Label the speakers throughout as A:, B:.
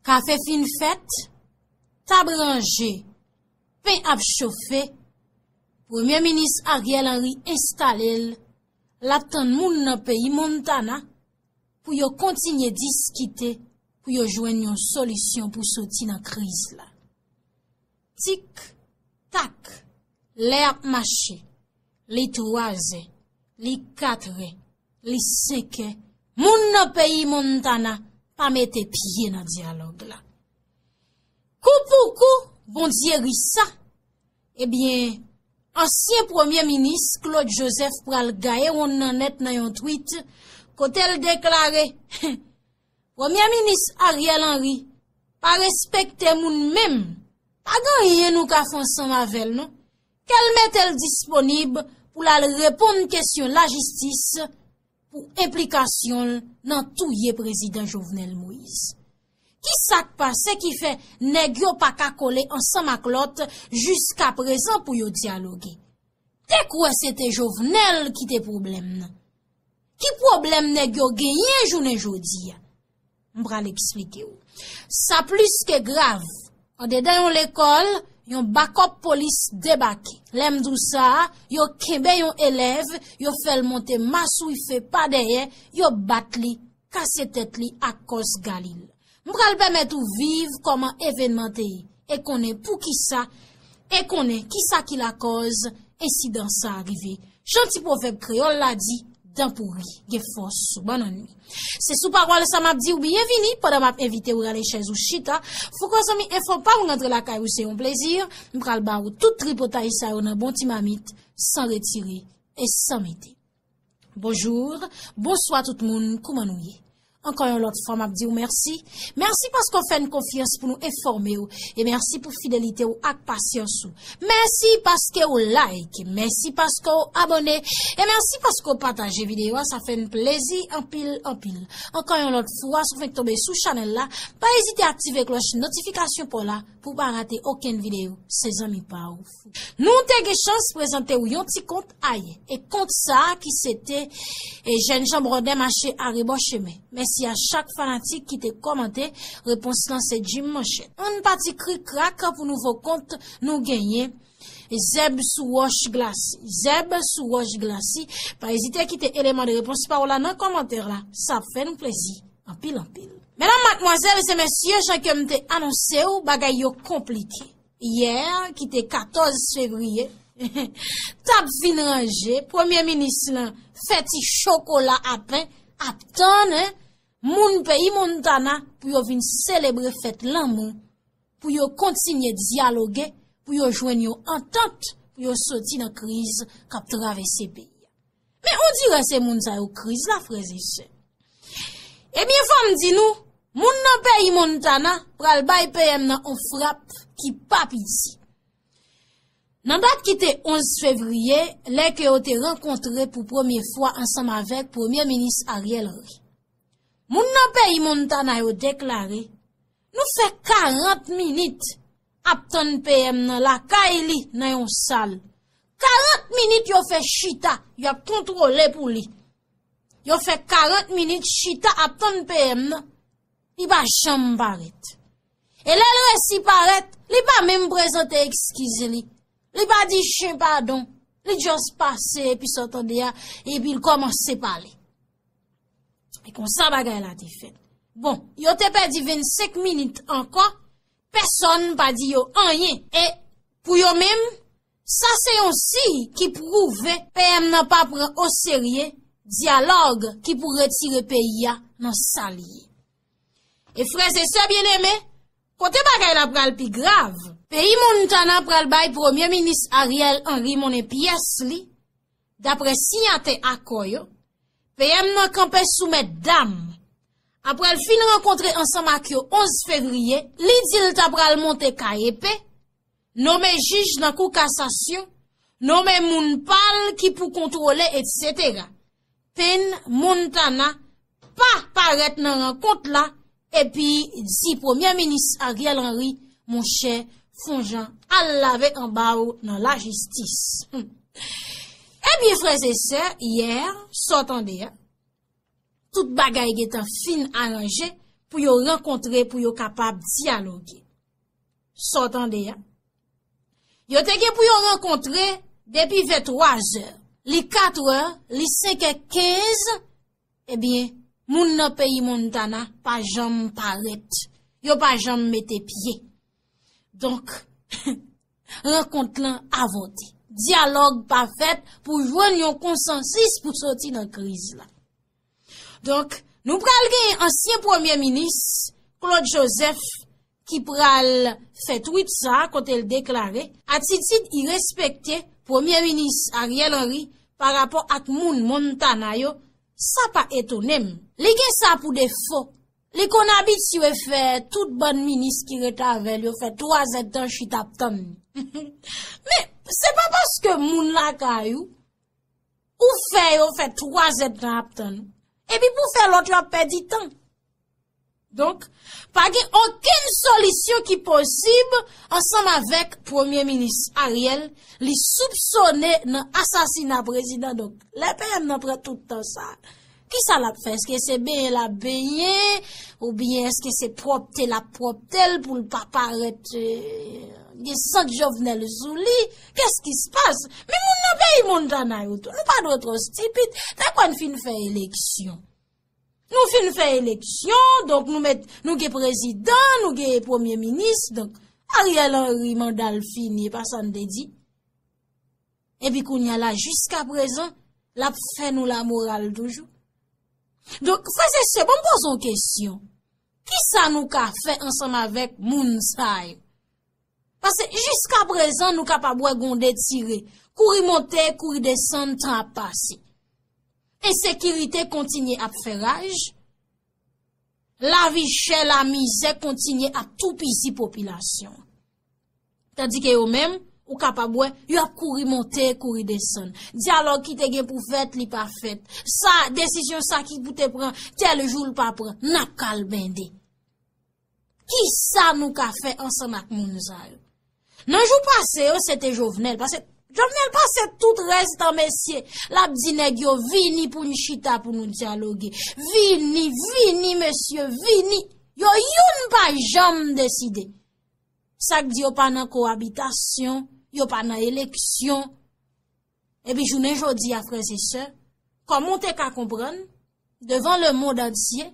A: Kafe fin fèt, tab ranje, pen ap chofe, Premye Minis Ariel Henry enstale l, l ap tann moun nan peyi Montana pou yo kontinye diskite pou yo jwenn yon solisyon pou soti nan kriz la. Tik, tak, lè ap mache, li twa zè, li kat rè, li senkè, moun nan peyi Montana pa mete pye nan dyalòg la. Kou pou kou, Bondye ri sa, ebyen, ansyen premye minis Claude Joseph pral gaye wonn nan nèt nan yon twit, kote l deklare, he! Premye minis Ariel Henry pa respekte moun menm, pa gen anyen nou ka fè ansanm avè l non. Ke l mete l disponib pou l al reponn kesyon lajistis pou enplikasyon l nan touye prezidan Jovenel Moise. Ki sa k pase ki fè nèg yo pa ka kole ansanm ak lòt jiskaprezan pou yo dyaloge? Te kwè se te Jovenel ki te pwoblèm nan. Ki pwoblèm nèg yo genyen jounen jodi a? M pral eksplike w. Sa plis ke grav. Andedan yon lekòl, yon bakòp polis debake. Lè m di w sa, yo kenbe yon elèv, yo fè l monte maswife pa dèyè, yo bat li, kase tèt li ak kòs galil. M pral pèmèt ou viv kòman evènman te ye e konnen pou ki sa e konnen ki sa ki lakòz ensidan sa a rive. Jan ti pwovèb kreyòl la di, Dan pouri gen fòs sou bannann li. Se sou pawòl sa m ap di ou byenvini pandan m ap envite ou rale chèz ou chita. Fouco zanmi enfo pa m rantre lakay ou se yon plezi. M pral ba ou tout tripotay sa yo nan bon ti mamit san retire e san mete. Bonjour, bonswa tout moun, kouman nou ye? Ankò yon lòt fwa map diw mèsi, mèsi paske w fè n konfyans pou nou enfòme w e mèsi pou fidelite w ak pasyans ou. Mèsi paske w like, mèsi paske w abòne e mèsi paske w pataje videyo a sa fè n plezi anpil anpil. Ankò yon lòt fwa si w fenk tonbe sou chanèl la, pa ezite aktive klòch notifikasyon paw la pou w pa rate okenn videyo se zanmi pa w. Nou te gen chans prezante w yon ti kont ay e kont sa ki se te e jèn jan brodè mache arebò chemen. Mèsi a chak fanatik ki te kòmante, repons lan se Jim Manchèt. Ann pati krik krak pou nouvo kont nou genyen Zèb sou wòch glasi. Zèb sou wòch glasi, pa ezite kite eleman de repons pa w la nan kòmantè la, sa ap fè nou plezi anpil anpil. Medam, matmwazèl e mesye jan ke m te anonse w bagay yo konplike. yè ki te 14 fevriye, t ap vin ranje, premye minis lan fè ti chokola a pen ap tann moun peyi Montana pou yo vin selebre fèt lanmou, pou yo kontinye dyaloge, pou yo jwenn yon antant pou yo soti nan kriz k ap travèse peyi a. Men on dirè se moun sa yo kriz la frèz e sè. Ebyen fòm di nou, moun nan peyi Montana pral bay PM nan on frap ki pa piti. Nan dat ki te 11 fevriye, lè ke yo te rankontre pou premye fwa ansanm avèk premye minis Ariel Henry. Moun nan peyi Montana yo deklare, nou fè 40 minit ap tann PM nan lakay li nan yon sal. 40 minit yo fè chita, yo ap kontwole pou li. Yo fè 40 minit chita ap tann PM nan, li pa janm parèt. E lè l resi parèt, li pa menm prezante ekskiz li. Li pa di chen padon, li just pase epi sa w tande a, epi l kòmanse pale. E konsa bagay la te fèt. Bon, yo te pèdi 25 minit ankò, Pèsòn pa di yo anyen. E, pou yo menm, sa se yon siy ki pwouve PM nan pa pran oserye dyalòg ki pou retire peyi a nan sa li ye. E frèzesè byeneme, kote bagay la pral pi grav, peyi Montana pral bay Premye Minis Ariel Henry monnen pyès li Dapre siyate akò yo, PM nan kanpe sou mètdam. Apre l fin rankontre ansanm ak yo 11 fevriye, li di l ta pral monte KEP, nome jij nan kou kasasyon, nome moun pa l ki pou kontwole etc. Penn Montana, pa parèt nan rankont la epi di premye minis Ariel Henry monchè fon jan al lave anba ou nan la jistis. Ebyen frèz e sè, yè, so tande a, tout bagay getan fin aranje pou yo rankontre pou yo kapab dialoge. So tande a. Yo te gen pou yo rankontre depi 23 zè, li 4 è, li 5 è 15, Ebyen, moun nan peyi Montana pa janm parèt. Yo pa janm mete pye. Donk, rankont lan avòte. Dyalòg pa fèt pou jwenn yon konsansis pou soti nan kriz la. Donk, nou pral gen ansyen premye minis, Claude Joseph, ki pral fè twit sa kote l deklare atitid irespekte premye minis Ariel Henry pa rapò ak moun Montana yo sa pa etone m. Li gen sa pou defo, li konn abitye fè tout bann minis ki ret avè l yo fè 3 zèdtan chita ap tann li. Men, se pa paske moun lakay ou, ou fè yo fè 3 zèdtan ap tann ou, epi pou w fè lòt yo ap pèdi tan. Donk, pa gen okenn solisyon ki posib ansanm avèk Premye Minis Ariel li soupsone nan asasina prezidan donk lè PM nan pran tout tan sa a, ki sa l ap fè? Eske se benyen l ap benyen oubyen eske se pwòpte l ap pwòpte l pou l pa parèt gen sant Jovenel sou li? Kès ki se pas? Men moun nan peyi Montana yo tou, nou pa dwe twò stipid, ta kwen fin fè eleksyon. Nou fin fè eleksyon, donk nou met, nou gen prezidan, nou gen premye minis, donk Ariel Henry manda l fini, e pa sa n te di. E pi kounye a la, jiska prezan, l ap fè nou la moral toujou. Donk, frè se se, bon m poze yon kesyon. Ki sa nou ka fè ansanm avèk moun sa yo? Pase jiska prezan nou kapab wè gonde tire, kouri monte, kouri desann, tan ap pase. Ensekirite kontinye ap fè raj, lavi chè, lamizè kontinye ap toupizi popilasyon. Tandike yo menm, ou kapab wè, yo ap kouri monte, kouri desann. Dyalòg ki te gen pou fèt, li pa fèt. Sa, desisyon sa ki pou te pran, tèl jou l pa pran, n ap kalbende. Kisa nou ka fè ansanm ak moun sa yo? Nan jou pase yo se te Jovenel, pase Jovenel pase tout rès tan mesye, l ap di nèg yo vini pou n chita pou nou dyaloge, vini, vini mesye, vini, yo youn pa janm deside. Sa k di yo pa nan kowabitasyon, yo pa nan eleksyon. Epi jounen jodi a frè se sè, kòman ou te ka konprann, devan le mond antye,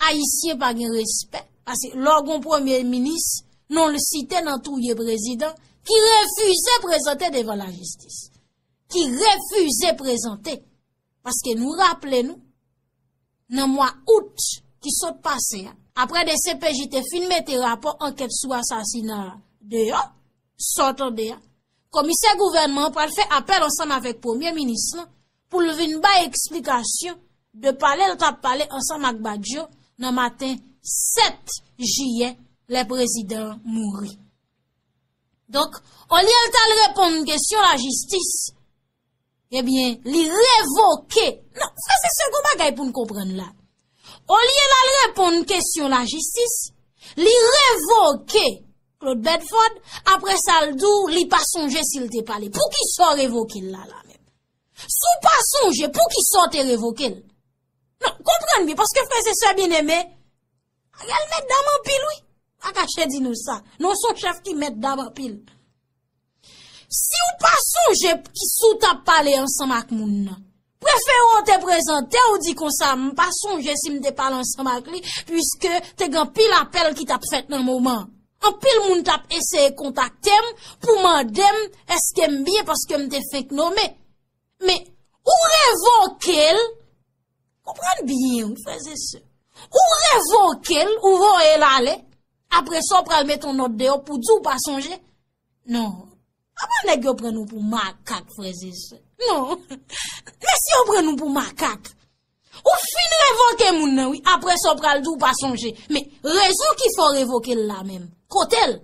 A: Ayisyen pa gen respè, pase lò gon premye minis, non l site nan touye prezidan, ki refize prezante devan la jistis. Ki refize prezante, paske nou raple nou, nan mwa out ki sot pase a, apre de CPJ te fin mete rapò ankèt sou asasina deyo, Sa w tande a? Komisè gouvènman an pral fè apèl ansanm avèk premye minis lan pou l vin bay eksplikasyon de pale l t ap pale ansanm ak Badio nan maten 7 jiyè lè prezidan an mouri. Donk, olye l t al reponn kesyon lajistis, Ebyen, li revoke. Non, sa se segon bagay pou n konprann la. Olye l al reponn kesyon lajistis, li revoke Claude Bedford, apre sa l di w li pa sonje si l te pale. Pou ki sa w revoke l la la menm? Si w pa sonje, pou ki sa w te revoke l? Non, konprann byen, paske frè se sè byen eme, Ariel mèt dam anpil wi. Mpa kache di nou sa. Non son chèf ki mèt dam anpil. Si w pa sonje ki sou t ap pale ansanm ak moun nan, prefere w te prezante w di konsa m pa sonje si m te pale ansanm ak li pwiske te gen anpil apèl ki t ap fèt nan moman an. Anpil moun t ap eseye kontakte m pou mande m eske m byen paske m te fenk nome. Men, ou revoke l, konprann byen wi freze se, ou revoke l, ou voye l ale, apre sa ou pral met yon nòt deyò pou di ou pa sonje. Non, apan nèg yo pran nou pou makak freze se. Non, mesye yo pran nou pou makak. Ou fin revoke moun nan wi, apre sa ou pral di ou pa sonje. Men, rezon ki fè ou revoke l la menm, kote l?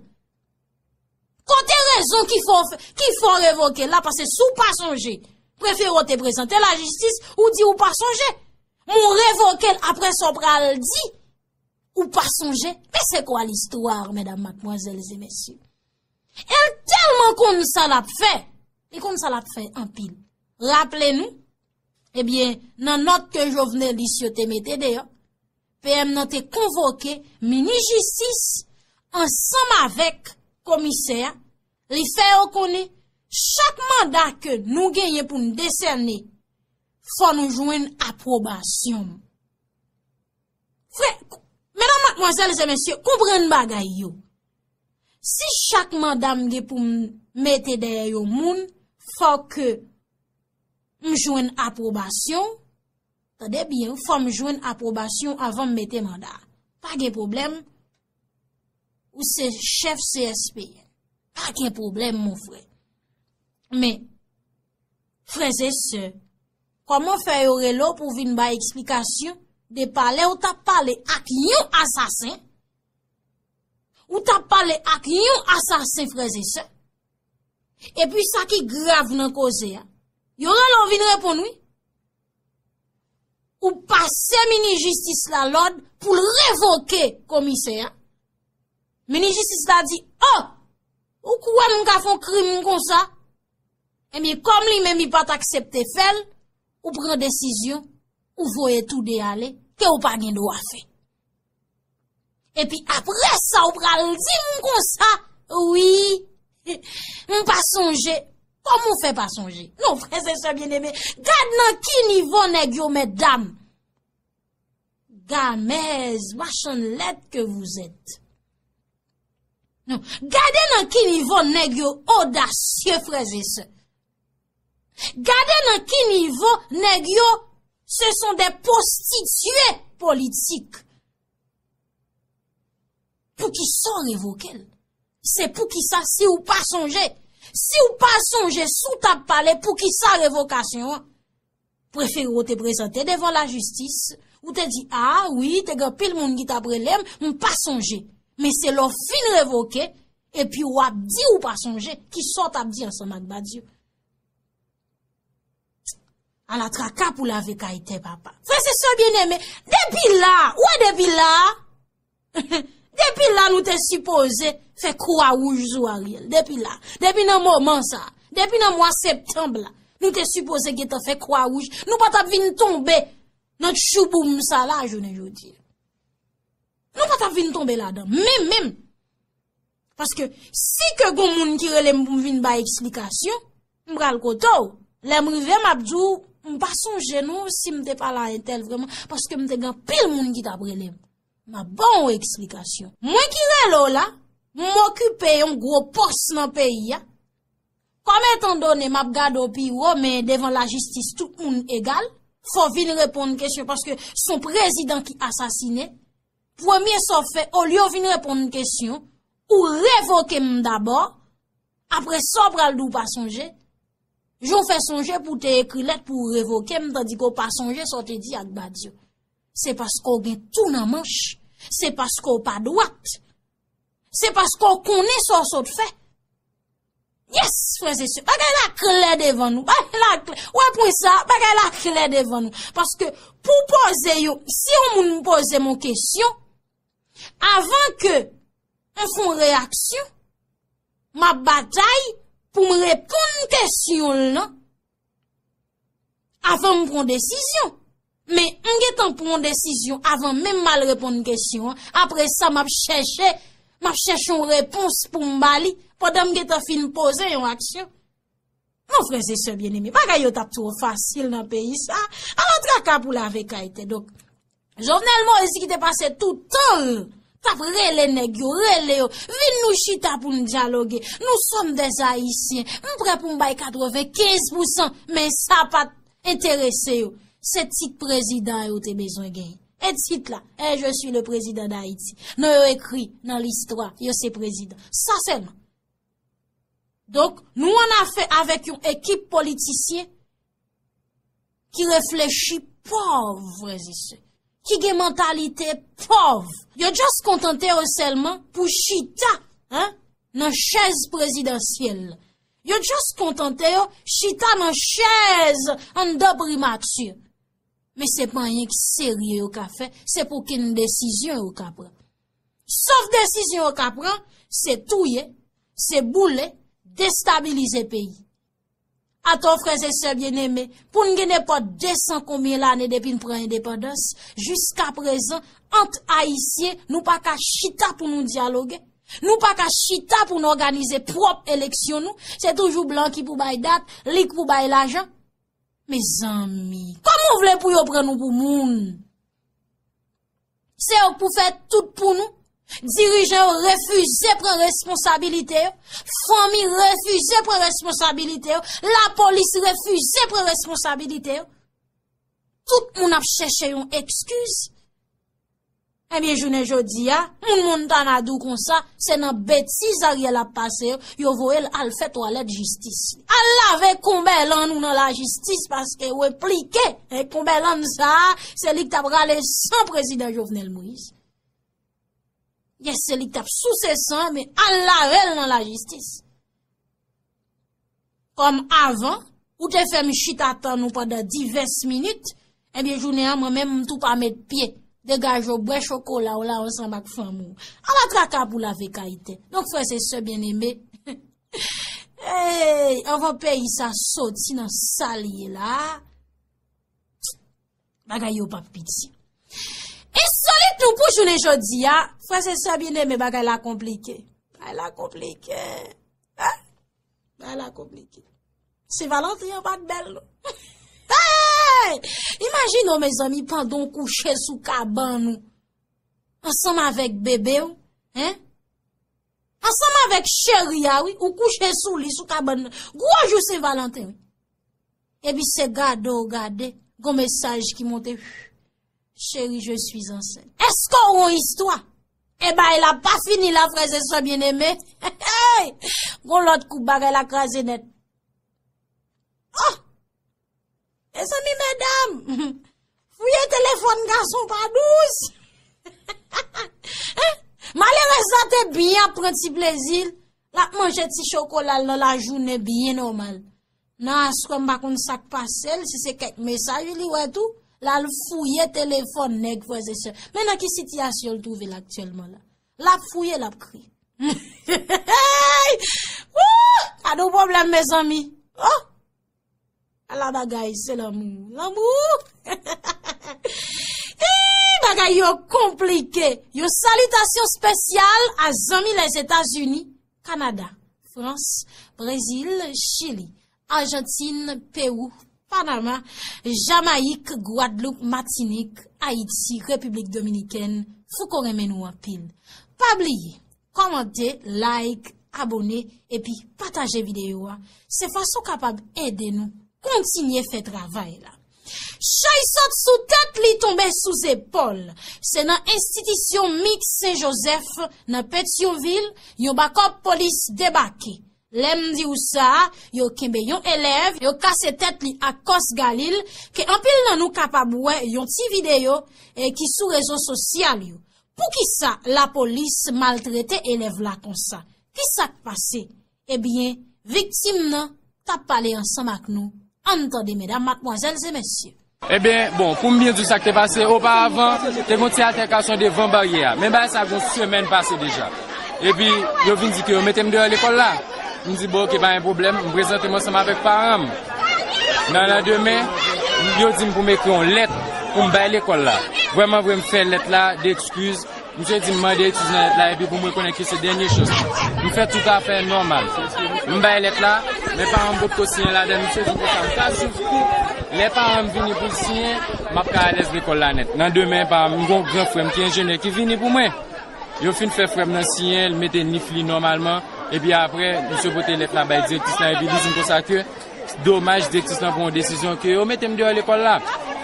A: Kote rezon ki fè w revoke l la pase si w pa sonje prefere w te prezante lajistis ou di ou pa sonje. Men w revoke l apre sa w pral di ou pa sonje. Men se kwa listwa mèdam matmwazèl e mèsyè. El telman konn sa l ap fè, li konn sa l ap fè anpil. Raple nou, ebyen nan not ke Jovenelis yo te mete deyo, PM nan te konvoke minis jistis ansanm avèk komisè a, li fè yo konnen chak manda ke nou genyen pou n desène fò nou jwenn apwobasyon m. Frè, menan matmwazèl zè mesye, konprann bagay yo. Si chak manda m gen pou m mete dèyè yo moun, fò ke m jwenn apwobasyon. Tande byen wi fòm jwenn aprobasyon avanm mete manda. Pa gen pwoblèm ou se chèf CSPN. Pa gen pwoblèm mon frè. Men, frèze se, kòman fè yo rele w pou vin bay eksplikasyon de pale ou tap pale ak yon asasen? Ou tap pale ak yon asasen frèze se? E pi sa ki grav nan koze a, yo rele w vin reponn wi. Ou pase minis jistis la lòd pou l revoke komisè a. Minis jistis la di, oh, ou kwè m ka fè yon krim konsa? Ebyen, kòm li menm li pa t aksepte fè l, ou pran desizyon, ou voye tou de ale, ke ou pa gen dwa fè. Epi apre sa ou pral di m konsa, wi, m pa sonje, kòman ou fè pa sonje? Non, frè zè sè byen eme, gad nan ki nivo nèg yo mèt dam. Gamèz, machann lèt ke vouzèt. Non, gade nan ki nivo nèg yo odasye frè zè sè. Gade nan ki nivo nèg yo se son de postitye politik. Pou ki sa w revoke l? Se pou ki sa si w pa sonje? Si w pa sonje sou ta pale pou ki sa revokasyon an? prefere w te prezante devan lajistis, ou te di a, wi, te gen anpil moun ki t ap rele m, m pa sonje. Men se lè w fin revoke, epi w ap di ou pa sonje, ki sa w t ap di ansanm ak Badiou. Ala traka pou lave kay tè papa. Frè se sè byeneme, depi la, ou wè depi la, Depi la nou te sipoze fè kwa wouj sou Ariel. Depi la. Depi nan moman sa. Depi nan mwa septanb la. Nou te sipoze gen te fè kwa wouj. Nou pa tap vin tonbe nan tchouboum sa la jounen joudye. Nou pa tap vin tonbe la dan. Menm menm. Paske, si ke gon moun ki rele m pou m vin bay eksplikasyon, m pral kote w. Lè m rive, m ap di w, m pa sonje non si m te pale a entèl vreman, paske m te gen anpil moun ki t ap rele m. M ap ban w eksplikasyon. Mwen ki rele w la, m okipe yon gwo pòs nan peyi a. Kòm etan done m ap gade w pi wo, men devan lajistis tout moun egal, fò w vin reponn kesyon paske son prezidan ki asasine. Premye sa w fè, olye w vin reponn m kesyon, ou revoke m dabò, apre sa w pral di w pa sonje, jan w fè sonje pou w te ekri lèt pou w revoke m, tandi ke w pa sonje sa w te di ak Badio. Se paske w gen tou nan manch, se paske w pa dwat, se paske w konnen sa w sot fè. Yes frères et sœurs, bagay la klè devan nou, bagay la klè, ou wè pwen sa, bagay la klè devan nou, paske pou poze yon, si yon moun poze moun kesyon, avan ke yon fon reyaksyon, ma batay pou m reponn kesyon l nan, Avan m pran desizyon. Men, m gen tan pran desizyon avan menm m al reponn kesyon an. Apre sa, m ap chèche, m ap chèche yon repons pou m ba li. Pandan m gen tan fin poze yon aksyon. Mon frè se sè byen eme. Bagay yo t ap twò fasil nan peyi sa. Ala traka pou lave kay te. Jovenel Moïse ki te pase tout tan l tap rele nèg yo, rele yo, vin nou chita pou n dyaloge, nou sòm dè Ayisyen, m prè pou m bay 95 pou san, men sa pat enterese yo, se tit prezidan yo te bezwen gen. E tit la, e je si le prezidan d'Ayiti, non yo ekri nan listwa, yo se prezidan. Sa sèlman. Donk, nou an afè avèk yon ekip politisyen, ki reflechi pòv frèzise, ki gen mantalite pòv. Yo just kontante yo sèlman pou chita nan chèz prezidansyèl. Yo just kontante yo chita nan chèz an dan primatye. Men se pa anyen ki serye yo ka fè, se pou ken desizyon yo ka pran. Sof desizyon yo ka pran, se touye, se boule, destabilize peyi. Atò frè e sè byeneme, pou n gen nenpòt desan konbyen lane depi n pran endepandans, jiska prezan, ant Ayisyen, nou pa ka chita pou nou dyaloge, nou pa ka chita pou n òganize pwòp eleksyon nou, se toujou blan ki pou bay dat, li k pou bay lajan. Mezanmi, kòman w vle pou yo pran nou pou moun? Se yo k pou fè tout pou nou, dirijan yo refize pran responsabilite yo, fanmi refize pran responsabilite yo, lapolis refize pran responsabilite yo. Tout moun ap chèche yon ekskiz. Ebyen eh jounen jodi ya, moun moun ta na dou konsa, se nan beti zarye la pase yo, yo voye l al fè toalet jistis. Al lave konbè lan nou nan la jistis paske we plike. E Combelland sa a, se li k t ap rale san prezidan Jovenel Moïse. Yè se li k t ap souse san, men al lave l nan lajistis. Kòm avan, ou te fè m chita tan nou pandan divès minit, e byen jounen an mwen men m tou pa met pye. Degaj ou bwè chokola ou la ansanm ak fanm ou. Ala traka pou lave kayite. Donk frè se sè byen eme, Eyy, anvan peyi sa soti nan sa li ye la, bagay yo pap piti. E soli tou pou jounen jodi ya, fwa se sa bine me bagay la komplike. Bagay la komplike. Bagay la komplike. Se valantri an pat bel nou. Eyy, imajin nou me zanmi pandon kouche sou kaban nou. Ansanm avek bebe ou. Ansanm avèk cheri a wi ou kouche sou li sou kabann nan gwo jou sen valanten wi. Epi se gade ou gade gon mesaj ki monte huuh cheri je suis ansent. Eske ou gon istwa? E bay la pa fini la frè ze sè byen eme heeyy gon lòt kou bagay la kraze nèt ohh. E zanmi medam, fouye telefon gason pa douz. Malerez la te byen ap pran ti plezil, la ap manje ti chokolal nan la jounen byen normal. Nan aswe mba konn sak pasel, si se kek mesaj li we tou, la al fouye telefon neg fweze se. Men nan ki siti asyol touve la aktyelman la. La ap fouye, la ap kri. Hey! Wouh! Kado problem me zanmi. Oh! A la bagay se lanmou. Lanmou ooh. Eeii bagay yo konplike. Yon salitasyon spesyal a zanmi les Etazini, Kanada, Frans, Brezil, Chili, Arjantin, Pewou, Panama, Jamayik, Gwadloup, Matinik, Ayiti, Repiblik Dominikèn, Fouco renmen nou anpil. Pa bliye. Kòmante, like, abone epi pataje videyo a se fason w kapab ede nou kontinye fè travay la. Chay sot sou tèt li tonbe sou zepòl. Se nan enstitisyon Mix Sen Jozèf nan Petyonvil yon bakòp polis debake. Lè m di w sa, yo kenbe yon elèv, yo kase tèt li ak kòs galil ke anpil nan nou kapab wè yon ti videyo ki sou rezo sosyal yo. Poukisa lapolis maltrete elèv la konsa? Kisa k pase? Ebyen, viktim nan t ap pale ansanm ak nou. An n tande medam, matmwazèl e mesye. Ebyen, bon,
B: pou m byen di w sa k te pase, oparavan, te gen yon ti atèkasyon devan baryè a. Men bagay sa gen yon semèn pase deja. Epi, yo vin di ke yo mete m deyò lekòl la. M di bon, oke, pa gen pwoblèm. M prezante m ansanm avèk paran m. Nan landemen, yo di m pou m ekri yon lèt pou m bay lekòl la. Vrèman vre, m fè lèt la de ekskiz. Misye di m mande ekskiz nan lèt la epi pou m rekonèt ke se dènye chans mwen. M fè tout afè nòmal. M bay lèt la, men paran m potko siyen ladan l. Misye di m konsa m ka siv kou. Lè paran m vini pou l siyen, m ap ka alèz lekòl la nèt. Nan demen, paran m, yon gran frè m ki enjenyè ki vini pou mwen. Yo fin fè frè m nan siyen, l mete nif li nòmalman, epi apre, misye pote lèt la bay direktris la epi li di m konsa ke domaj direktris lan pran yon desizyon ke yo mete m deyò lekòl la.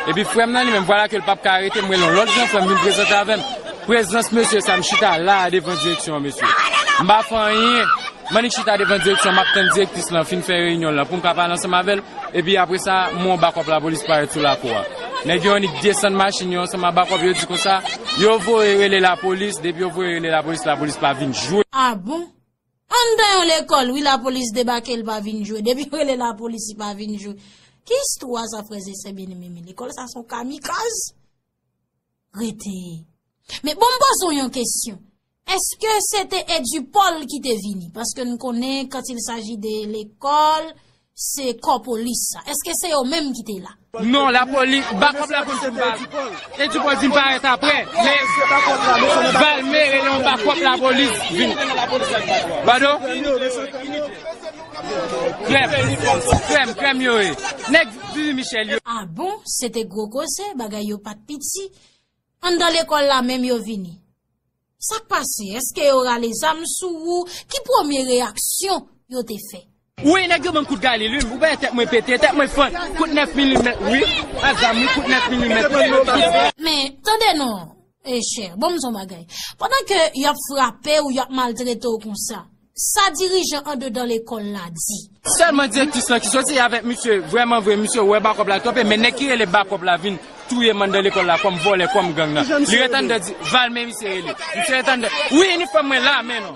B: Epi frè m nan li menm, vwala ke l pap ka arete m, rele yon lòt gran frè m vin prezante avè m. Prezans mesye sa, m chita la a devan direksyon an mesye. M pa fè anyen, m annik chita devan direksyon an, m ap tann direktris lan fin fè reyinyon l lan pou m ka pale ansanm avè l, epi apre sa, m wè yon bakòp lapolis parèt sou lakou a. Nèg yo annik desann machin yo ansanm a bakòp yo di konsa yo voye rele lapolis depi yo voye rele lapolis lapolis pa vin jwe. A bon!
A: Anndan yon lekòl wi lapolis debake li pa vin jwe depi yo rele lapolis li pa vin jwe. Ki istwa sa frèzè sè byeneme men lekòl sa son kamikaz. Rete. Men bon m poze w yon kesyon. Eske se te Edupol ki te vini? Paske n konnen kant il saji de lekol, se kò polis sa. Eske se yo menm ki te la? Non, la poli,
B: bakop la polis se te Edupol. Edupol di m paret apre. Men, Valme rele yon bakop la polis vini. Pado? Krèm krèm krèm yo ye nèg vivi michel yo. Ah bon se
A: te gwo koze bagay yo pat piti anndan lekòl la menm yo vini sak pase eske yo rale zam sou ou ki premye reyaksyon yo te fè. Wi nèg yo banm kout
B: galil wi ou pa wè tèt mwen pete tèt mwen fon kout 9 milimèt wi ak zam wi kout 9 milimèt. Men tande
A: non E chè, bon m di w yon bagay. Pandan ke y ap frape ou, y ap maltrete w konsa, sa dirijan andedan lekòl la di? Sèlman direktris lan
B: ki soti avèk misye, vrèman vre, misye wè Bakòp la twope, men nèg ki rele Bakòp la vin touye m anndan lekòl la kòm vòlè, kòm gang nan. Li ret anndan di, Valme misye rele. Misye ret anndan, wi inifòm mwen la men non.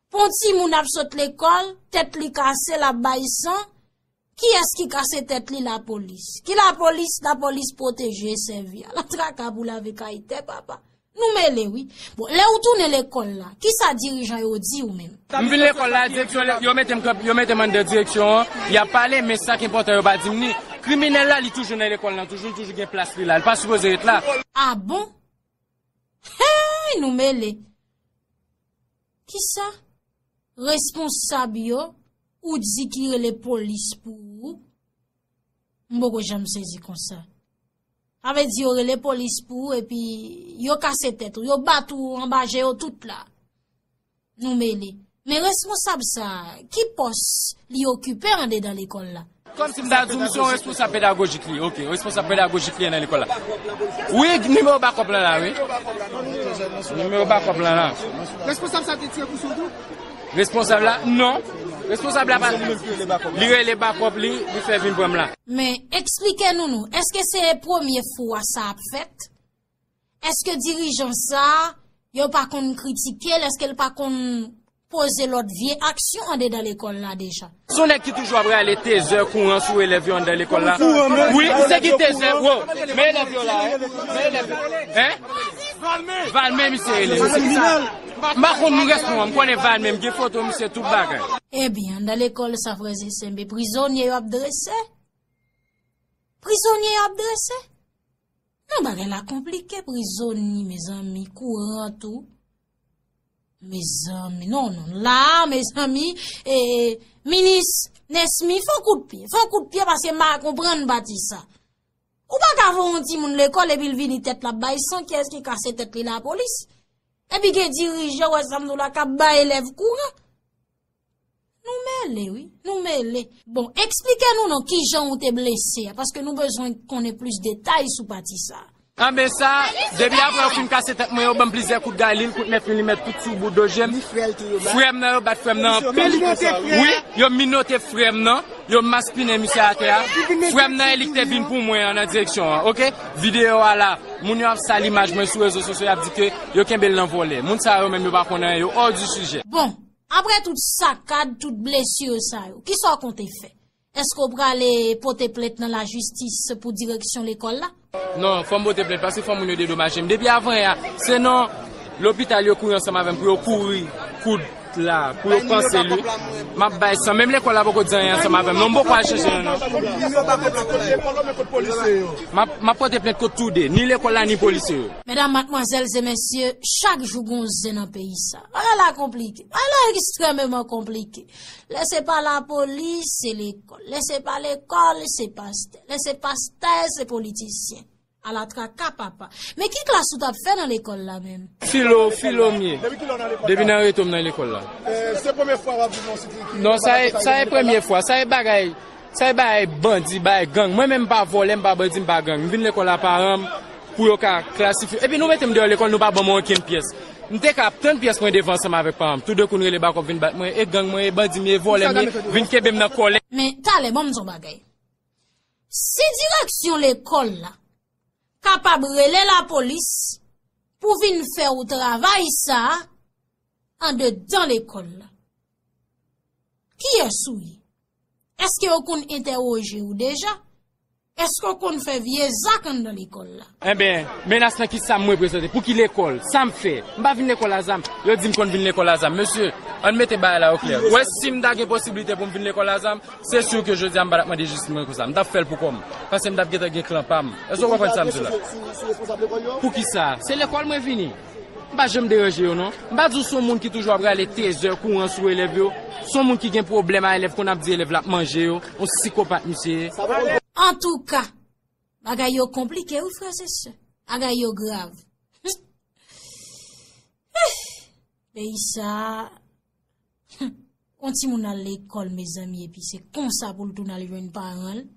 A: Pon timoun ap sot lekol, tet li kase lap bay san, kiyes ki kase tet li la polis. Ki la polis, la polis proteje sevi a. La traka pou lave kay te papa. Nou mele wi. Bon, le ou tounen lekol la, kisa dirijan yo di ou menm? M vin lekol la, direksyon
B: le, yo metem kanpe, yo metem andan direksyon an, yap pale men sak enpotan yo pa dim ni. Kriminel la li toujou nan lekol lan toujou, li toujou gen plas li la, li pa sipoze ret la. Ah bon?
A: Heyy nou mele. Kisa? Responsab yo ou di ki rele polis pou ou? M poko janm sezi konsa. Sa vle di yo rele polis pou ou epi yo kase tèt ou, yo bat ou anba je yo tout la. Nou mele. Men responsab sa, ki pòs li okipe andedan lekòl la? Kòm si m ta di w misye yon
B: responsab pedagojik li ok yon responsab pedagojik li ye nan lekòl la wi nimewo bakòp lan la wi nimewo bakòp lan la responsab sa te
C: tire pousyon tou responsab la
B: non responsab la pa li rele bakòp li li fè vin pran m la men eksplike
A: nou nou eske se premye fwa sa ap fèt. Eske dirijan sa a, yo pa konn kritike l, eske l pa konn poze lòt vye aksyon andedan lekòl la deja? Se yon nèg ki toujou ap
B: rale tezè, kouran sou elèv yo anndan lekòl la. Wi, se ki tezè, wo! Men elèv yo la, men elèv yo. Hein? Valme misye rele. Misye ki sa? M pa konn nou rès nou an, m konnen Valme, m gen foto misye, tout bagay. Ebyen, anndan
A: lekòl sa, frèz e sè, men prizonye yo ap drese? Prizonye yo ap drese? Non bagay la konplike prizoni mezanmi kouran tou mezanmi non non la mezanmi e minis nesmy fon kout pye fon kout pye paske m pa konprann pati sa ou pa ka voun ti moun lekòl epi l vini tèt la bay san kiyès ki kase tèt li lapolis epi gen dirijan wè sa m di w la kap bay elèv kouran. Nou mele wi, nou mele. Bon, eksplike nou non kijan ou te blese a, paske nou bezwen konnen plis detay sou pati sa. Anben sa,
B: depi apre yo fin kase tèt mwen yo banm plizyè kout gaylil, kout 9 milimèt tout sou bout do jem, frèm nan yo bat frèm nan anpil, wi, yo minote frèm nan, yo maspinen misye atè a, frèm nan e li ki te vin pou mwen an nan direksyon an, ok, videyo a la, moun yo ap sal imaj mwen sou rezo sosyo yap di ke yo kenbel nan vòlè, moun sa yo menm yo pa konnen anyen yo hors du sujet. Bon, Apre
A: tout sakad, tout blesure sa yo, kisa w konte fè? Eske w prale pote plent nan lajistis pou direksyon lekòl la? Non, fò m pote
B: plent paske fò moun yo dedomaje m. Depi avan yè a, se nan lopital yo kouri ansanm avè m pou yo kouri koud la, pou yo panse li. M ap bay san. Menm lekòl la poko di anyen ansanm avè m non. M poko al chèche yo non. M ap pote plent kont tou de, ni lekòl la ni polisye yo. Medam, matmwazèl
A: e mesye, chak jou gon zen nan peyi sa. Bagay la konplike. Bagay la ekstrèmeman konplike. Lè se pa lapolis, se lekòl. Lè se pa lekòl, se pastè. Lè se pastè, se politisyen. Ala traka papa. Men ki klas ou t ap fè nan lekòl la menm? Filo, Filomye.
B: Depi ki lè w nan lekòl la? Depi nan rete w m nan lekòl la. Se premye fwa w ap
C: viv nan yon site
B: ki. Non, sa e premye fwa. Sa e bagay Sa e bagay bandi, bagay gang. Mwen menm m pa vòlè, m pa bandi, m pa gang. M vin lekòl a paran m pou yo ka klasifye m. Epi nou mete m deyò lekòl nou pa ban mwen okenn pyès. M te ka ap tann pyès mwen devan ansanm avèk paran m. Toudenkou n rele bakòp vin bat mwen, e gang mwen ye, bandi m ye, vòlè m ye, vin kenbe m nan
A: kòlè.
B: Men talè ban m di yon bagay.
A: Si direksyon lekòl la kapab rele lapolis pou vin fè ou travay sa andedan lekòl la, kiyès ou ye? Eske yo konn entèwoje ou deja? Eske ou konn fè vye zak anndan lekòl la? Enben, menas
B: nan ki sa m reprezante? Pou ki lekòl? Sa m fè? M pa vin lekòl a zam. Yo di m konn vin lekòl a zam. Mesye, ann mete bagay la oklè. Wè, si m ta gen posiblite pou m vin lekòl a zam, se sur ke jodi a m pa t ap mande jistis mwen konsa. M t ap fè l pou kò m. Paske m t ap gentan gen klan pa m. Eske ou konprann sa m di la? Pou ki sa? Se lekòl mwen vini. M pa janm deranje yo non. M pa di w son moun ki toujou ap rale tezè kouran sou elèv yo. Son moun ki gen pwoblèm a elèv konn ap di elèv la ap manje yo. On sikopat misye ye. Antouka!
A: Bagay yo konplike wi frères et sœurs. Bagay yo grav. Hih! Peyi sa a. Hum! On timoun al lekòl mezanmi epi se konsa pou l tounen al jwenn paran l.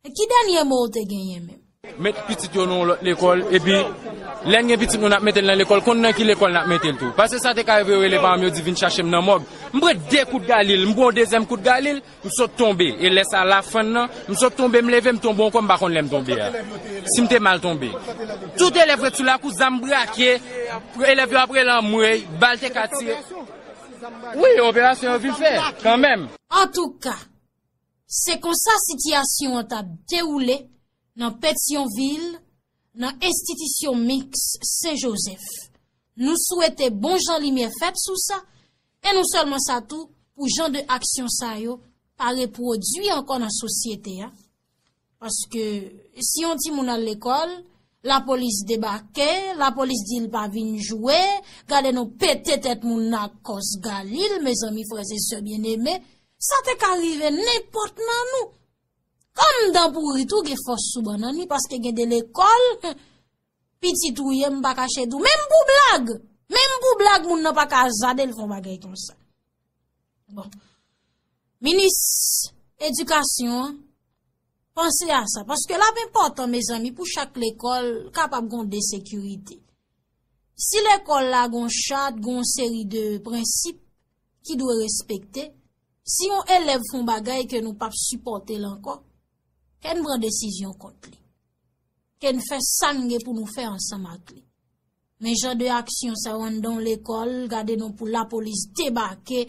A: E ki dènye mo ou te genyen menm? Met pitit yo nan
B: yon lòt lekòl, epi lè n gen pitit nou n ap mete l nan lekòl, konn nan ki lekòl n ap mete l tou. Pase sa te ka rive yo rele paran m yo di vin chache m nan mòg. M pran de kout galil, m pran yon dezyèm kout galil, m sot tonbe. E lè sa lafann nan, m sot tonbe m leve m tonbe ankò m pa konn lè m tonbe a, si m te mal tonbe. Tout elèv ret sou lakou, zam brake, elèv yo ap rele anmwey, bal te ka tire. Wi, operasyon yo vin fè, kanmenm. Antouka!
A: Se konsa sitiyasyon an t ap dewoule nan Petyonvil, nan enstitisyon miks Sen Jozèf. Nou swete bon jan limyè fèt sou sa, e non sèlman sa tou, pou jan de aksyon sa yo pa repwodui ankò nan sosyete a, Paske si yon timoun al lekòl, lapolis debake, lapolis di l pa vin jwe, gade nou pete tèt moun nan ak kòs Galil, mezanmi frèz e sè byeneme, sa te ka rive nenpòt nan nou. Kòm dan pouri tou gen fòs sou bannann li, paske gen de lekòl, piti tou ye m pa kache di w, menm pou blag, menm pou blag moun nan pa ka zade l fon bagay konsa. Bon, minis edikasyon an, panse a sa, paske la pen potan, mezanmi, pou chak lekòl kapab gon de sekirite. Si lekòl la gon chat, gon seri de prensip ki dwe respekte, si yon elèv fon bagay ke nou pap sipote lankò, ken bran desizyon kont li. Ken fè sange pou nou fè ansan mak li. Men jan de aksyon sa yo anndan yon lekòl, gade non pou lapolis debake,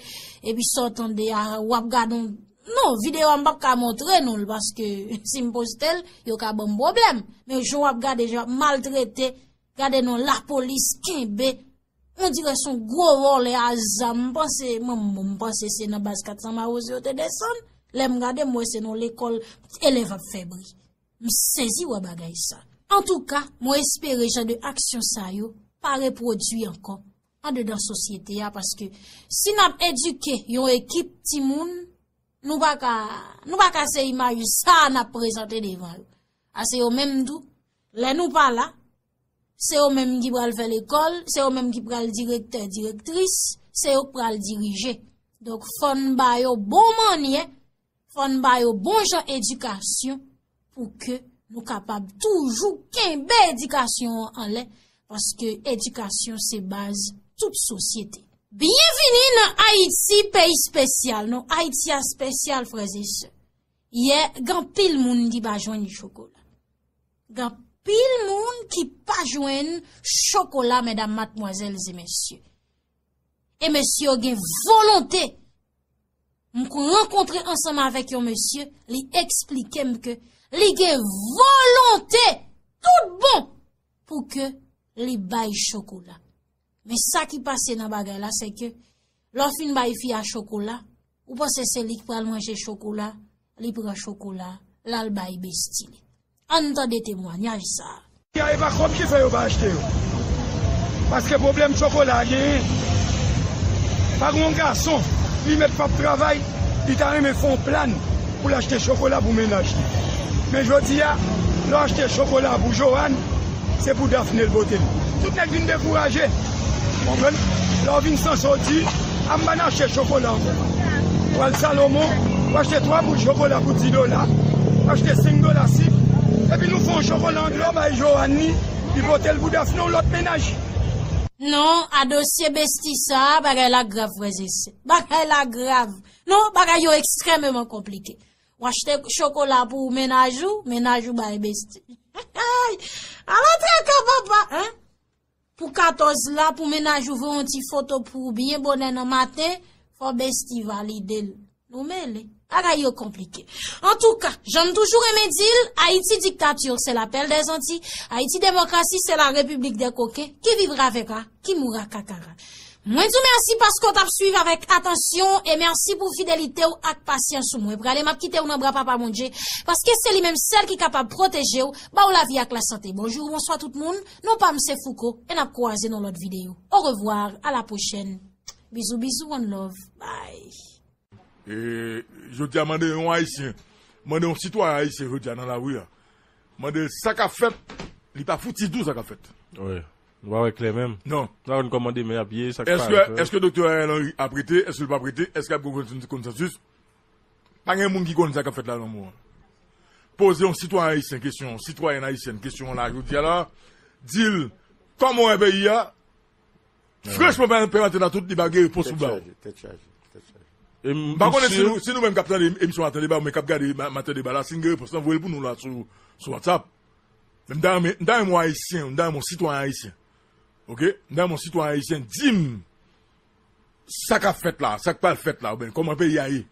A: epi sa w tande a, w ap gade yon, non, videyo a m p ap ka montre nou l, paske si m poste l, yo ka ban m pwoblèm, men jan w ap gade, jan yo ap maltrete, gade non lapolis kenbe, on dirè son gwo vòlè a zam, m panse, mwen m bon, m panse se nan baz 400 mawozo yo te desann, lè m gade m wè se nan yon lekòl, elèv ap fè bri. M sezi wè bagay sa. Antouka, mwen espere jan de aksyon sa yo pa repwodui ankò andedan sosyete a paske si n ap edike yon ekip timoun, nou pa ka, nou pa ka se imaj sa a n ap prezante devan yo. A se yo menm tou, lè nou pa la, se yo menm ki pral fè lekòl, se yo menm ki pral direktè, direktris, se yo k pral dirije. Donk fò n ba yo bon mannyè. Fò n ba yo bon jan edikasyon pou ke nou kapab toujou kenbe edikasyon an anlè paske edikasyon se baz tout sosyete. Byenvini nan Ayiti peyi spesyal nou, Ayiti a spesyal frèz e sè. Yè gan pil moun ki pa jwenn chokola. Gan pil moun ki pa jwenn chokola mèdam matmwazèl e mesye. E mesye yo gen volonte. M k rankontre ansanm avèk yon mesye, li eksplike m ke li gen volonte tout bon pou ke li bay chokola. Men sa ki pase nan bagay la se ke lò fin bay fi a chokola, Ou panse se li k pral manje chokola, li pran chokola, l al bay besti li. Ann tande temwanyaj sa a. Kay e pa kòb
D: ki fè yo pa achte yo. Paske pwoblèm chokola a genyen, pa gen yon gason li mèt p ap travay, li ta renmen fè yon plan pou l achte chokola pou mennaj li. Men jodi a, lè w achte chokola pou Johanne, se pou Daphné l pote l. Tout nèg vin dekouraje, w konprann, lè w vin san soti. Am bann achte chokola ankò. Pwal Salomon ou achte 3 boul chokola pou 10 dola, ou achte 5 dola sik, epi nou fè yon chokola an dlo bay Johanne ni li pote l pou Daphné yon lòt mennaj. Non
A: a dosye Bestie sa bagay la grav frèz e sè. Bagay la grav. Non bagay yo ekstrèmeman konplike. Ou achte chokola pou mennaj ou, mennaj ou bay Bestie. Ala traka papa! Pou 14 la, pou mennaj ou voye yon ti foto pou ou byen bonè nan maten, fò Bestie valide l. Nou mele. Bagay yo konplike. Antouka, jan m toujou renmen di l, Ayiti dictature c'est la pelle des Antilles, Ayiti demokrasi se la repiblik dè koken, ki vivra vèvra, ki moura kakara. Mwen di w mèsi paske w t ap swiv avèk atansyon e mèsi pou fidelite w ak pasyans ou. Mwen prale m ap kite w nan bra Papa Bondje, paske se li menm sèl ki kapab pwoteje w, ba w lavi ak lasante. Bonjou, bonswa tout moun. Non pa m se Fouco e nap kwaze nan lòt video. Au revoir a la prochèn Bizou bizou one love bye. E
E: jodia mande yon ayisyen, mande yon sitwayen ayisyen jodia nan lari a, mande l sa kap fèt, li pa fouti di w sa kap fèt. Wi. Nou
F: pa wè klè menm. Non. Nou pa konn kòman
E: demen ap
F: ye, sa k pa. Eske Doktè Ariel
E: Henry ap rete, eske l pap rete, eske ap gen yon konsansis? Pa gen moun ki konn sa k ap fèt la nan mou an. Poze yon sitwayen ayisyen kesyon, yon sitwayèn ayisyèn kesyon an la jodi a la, di l kòman w wè peyi a, franchman pa gen pè antena tout li pa gen repons pou ba w. M pa konnen si nou menm k ap tande emisyon maten deba oubyen k ap gade maten deba la si n gen repons lan voye l pou nou la sou whatsapp. Men m ta renmen m ta renmen yon ayisyen, m ta renmen yon sitwayen ayisyen ok, m ta renmen yon sitwayen ayisyen di m Sa kap fèt la, sa k pral fèt la oubyen kòman peyi a ye,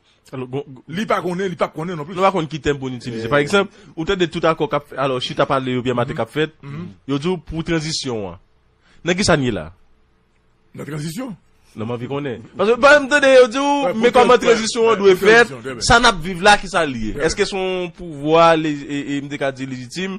E: li pa konnen, li p ap konnen nonplis. Nou pa konn ki tèm pou n itilize.
F: Pa egzanp, ou tande tout akò k ap fèt, alò chita pale oubyen mate k ap fèt, yo di w pou tranzisyon an. Nan kisa n ye la? Nan
E: tranzisyon. Non m anvi konnen.
F: Paske pa m tande yo di w men kòman tranzisyon an dwe fèt, sa n ap viv la kisa l ye? Eske se yon pouvwa, m te ka di lejitim,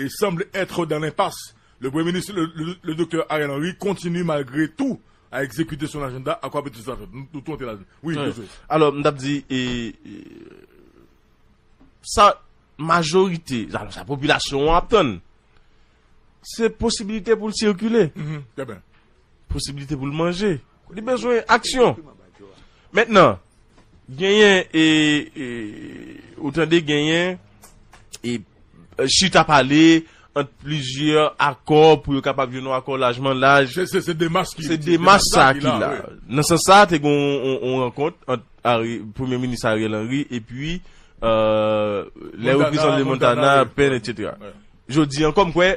E: E semble etre dans l'impasse, le premye minis le Doktè Ariel Henry kontinye malgre tou a ekzekite son ajanda a kwape tout sa fèt. Nou tou antre ladann. Wi Josué. Alò m tap
F: di e sa majorite alò sa popilasyon an ap tann se posibilite pou l sikile,
E: posibilite pou
F: l manje. Li bezwen aksyon. Mentnan, genyen e, e, ou tande genyen e, e chita pale ant plizyè akò pou yo kapab jwenn yon akò lajman laj. Se, se, se demach ki, Se
E: demach sa ki
F: la. Nan sans sa a te gen yon, yon rankont ant Ari, Premye Minis Ariel Henry epi, e, lè reprezan le Montana, Pèn, etc. Jodi an kòm kwè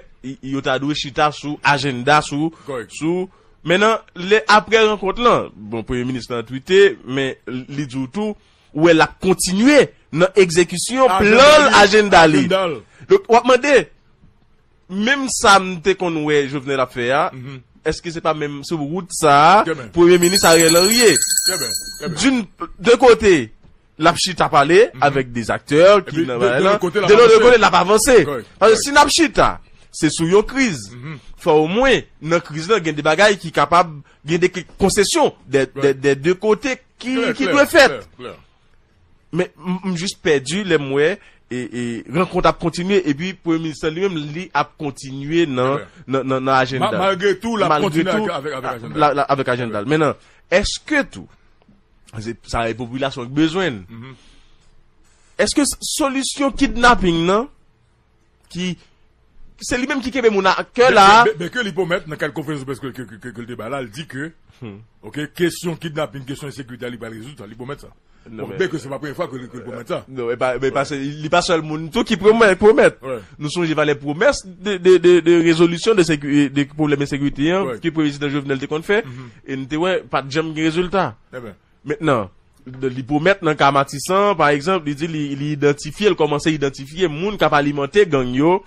F: yo ta dwe chita sou ajennda sou sou men nan lè aprè rankont lan bon premye minis lan twite men li di w tou ou wè l ap kontinye nan egzekisyon plan l ajennda li donk w ap mande menm sa m te konn wè Jovenel ap fè a èske se pa menm sou wout sa a premye minis Ariel Henry ye doun de kote. Lap chita pale avèk des acteurs ki nan bagay lan, de lòt kote lap avanse. Paske si nap chita se sou yon kriz, fò o mwen nan kriz lan gen de bagay ki kapab, gen de konsesyon des deux kote ki dwe fèt. Men m jis pèdi lè m wè rankont ap kontinye epi premye minis lan li menm li ap kontinye nan ajenda l. Malgre tou lap
E: kontinye avèk ajenda l.
F: Avèk ajenda l. Menan, eske tou. Se sa e popilasyon ki bezwen l. Eske solisyon kidnaping nan ki se li menm ki kenbe moun a kè la a. Ben ke li pwomèt nan kad
E: konferans de près ke li te bay la, li di ke ok, kesyon kidnaping, kesyon ensekirite a li pral rezoud sa, li pwomèt sa. Ben ke se pa premye fwa ke li pwomèt sa. Non, e pa, e pa se, li pa sèl moun tou ki pwomèt. Nou sonje valè pwomès de rezolisyon de pwoblèm ensekirite an ke prezidan Jovenel te konn fè E n te wè, pa t janm gen rezilta. Mentnan, li pwomèt nan ka Matisan, pa egzanp, li di li idantifye, li kòmanse idantifye moun k ap alimante gang yo.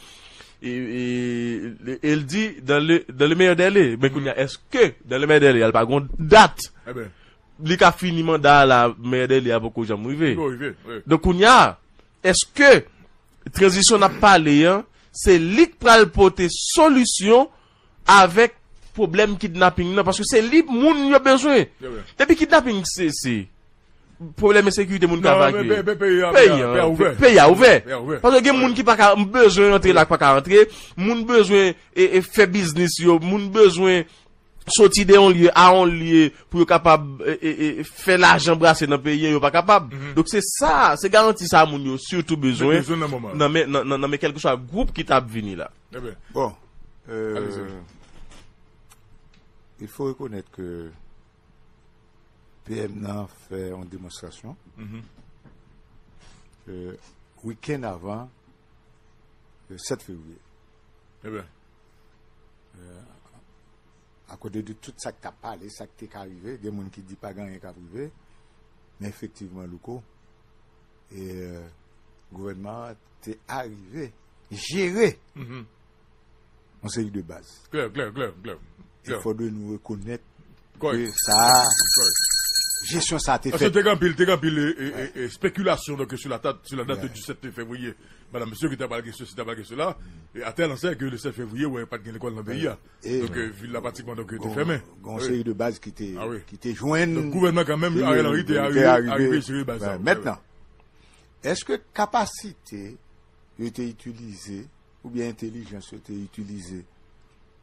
E: E l di, dan le meyè dèle. Men kounye a, èske dan le meyè dèle a, li pa gen yon dat li ka fini manda a la, meyè dèle a poko janm rive? Donk kounye a, èske tranzisyon n ap pale an, se li k pral pote solisyon avèk pwoblèm kidnaping nan paske se li moun yo bezwen depi kidnaping sese
F: pwoblèm ensekirite moun ka vakye
E: peyi a ouvè
F: paske gen moun ki paka bezwen antre la paka antre moun bezwen fè biznis yo moun bezwen soti de yon lye a yon lye pou yo kapab fè lajan brase nan peyi yo pa kapab dok se sa se garanti sa moun yo sitou bezwen nan men kelke sa group ki tap vini la. Bon,
G: il faut reconnaître que PM nan fè yon demonstrasyon ke week-end avan 7 février. Ebe. A kote de tout sa ki ta pale, sa ki te ka rive, gen moun ki di pa gen anyen ka prive, men efektivman louko, e gouvènman an, te arive jere yon seri de baz. Il fòdwe nou rekonèt ke sa a, jesyon sa a te fèt. Paske te gen anpil, te gen anpil
E: espekilasyon donke sou la tat, sou la dat de 17 fevriye, madan mesye ki ta pral gen sesi, ta pral gen sela, e a tèl ansè ke le 7 fevriye wè pat gen lekòl nan peyi a. Donke vil la pratikman donke te fèmen. Gen yon seri de baz
G: ki te jwenn. Donk gouvènman kanmenm
E: Ariel Henry te arive jere baz sa. Mètnan,
G: Èske kapasite yo te itilize oubyen entelijans yo te itilize